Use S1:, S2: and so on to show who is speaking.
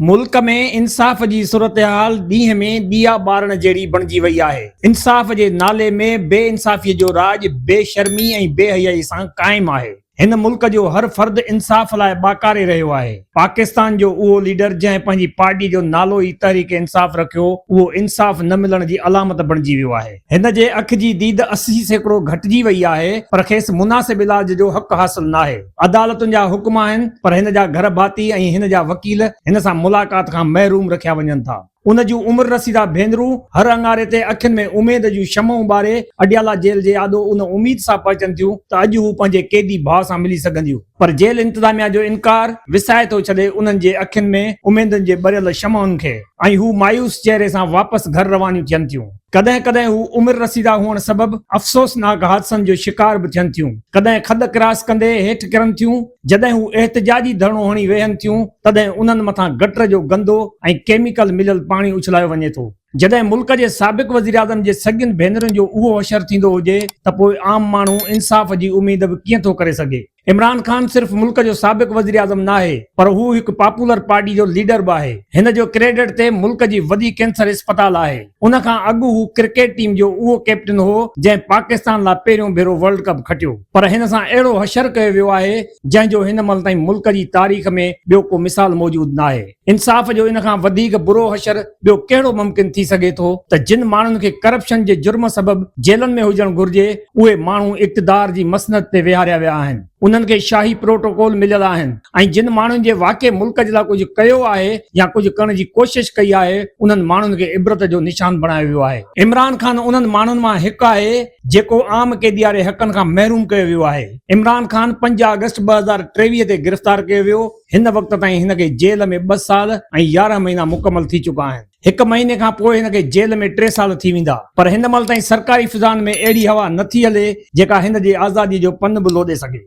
S1: ملڪ ۾ انصاف جي صورتحال ڏينهن ۾ ڏيئا ٻارڻ جهڙي بڻجي وئي آهي، انصاف جي نالي ۾ بي انصافي جو راڄ بي شرمي ۽ بي حيائي سان قائم آهي، هن ملڪ جو هر فرد انصاف لاء ٻاڪاري رهيو آهي، پاڪستان جو اهو ليڊر جنهن پنهنجي پارٽي جو نالو ئي تحريڪ انصاف رکيو اهو انصاف نه ملڻ جي علامت بڻجي ويو آهي. هن جي اک جي ديد اسي سيڪڙو گهٽجي وئي آهي پر کيس مناسب علاج جو حق حاصل ناهي. عدالتن جا حڪم آهن پر هن جا گهر ڀاتي ۽ هن جا وڪيل هن سان ملاقات کان محروم رکيا وڃن ٿا. ان جون عمر رسيده ڀينرون هر اڱاري تي اکين ۾ اميد جون شمعون ٻاري اڊيالا جيل جي آڏو ان اميد سان پهچن ٿيون ته اڄ هو پنهنجي قيدي ڀاء سان ملي سگهنديون. پر جيل انتظاميا جو انڪار وسائي ٿو ڇڏي انهن جي اکين ۾ اميدن جي ٻريل شمعن کي ۽ هو مايوس چهري سان واپس گهر روانيون ٿين ٿيون. ڪڏهن ڪڏهن هو عمر رسيده هئڻ سبب افسوسناڪ حادثن جو شڪار به ٿين ٿيون. ڪڏهن کڏ ڪراس ڪندي هيٺ ڪرن ٿيون. جڏهن هو احتجاجي ڌرڻو هڻي ويهن ٿيون تڏهن انهن مٿان گٽر جو گندو ۽ ڪيميڪل مليل پاڻي اڇلايو وڃي ٿو. جڏهن ملڪ جي سابق وزيراعظم جي سڳين ڀينرن جو اهو حشر ٿيندو هجي ته پوء عام ماڻهو انصاف جي اميد به ڪيئن ٿو ڪري سگهي. عمران خان صرف ملڪ جو سابق وزيراعظم ناهي پر هو هڪ پاپولر پارٽي جو ليڊر به آهي، هن جو ڪريڊٽ تي ملڪ جي وڏي ڪينسر اسپتال آهي، ان کان اڳ هو ڪرڪيٽ ٽيم جو اهو ڪئپٽن هو جنهن پاڪستان لا پهريون ڀيرو ورلڊ ڪپ کٽيو پر هن سان اهڙو حشر ڪيو ويو آهي جنهن جو هن مهل تائين ملڪ جي تاريخ ۾ ٻيو ڪو مثال موجود ناهي. انصاف جو ان کان وڌيڪ برو حشر ٻيو ڪهڙو ممڪن ٿي سگهي ٿو ته جن ماڻهن کي ڪرپشن جي جرم سبب جيلن ۾ هجڻ گهرجي اهي ماڻهو اقتدار جي مسند تي ويهاريا ويا آهن انهن کي شاهي پروٽوڪول مليل آهن ۽ جن ماڻهن جي واقعي ملڪ جي لاء ڪجهه ڪيو آهي يا ڪجهه ڪرڻ جي ڪوشش ڪئي آهي انهن ماڻهن کي عبرت جو نشان بڻايو ويو آهي عمران خان انهن ماڻهن مان هڪ آهي جيڪو عام قيدي واري حقن کان محروم ڪيو ويو آهي عمران خان پنج آگسٽ ٻه هزار ٽيويهه تي گرفتار ڪيو ويو هن وقت تائين هن کي جيل ۾ ٻه سال ۽ يارهن مهينا مڪمل ٿي چڪا آهن. هڪ مهيني کان پوء هن کي جيل ۾ ٽي سال ٿي ويندا پر هن مهل تائين سرڪاري فضائن ۾ اهڙي هوا نه ٿي هلي جيڪا هن جي آزادي جو پن به لوڏي سگهي.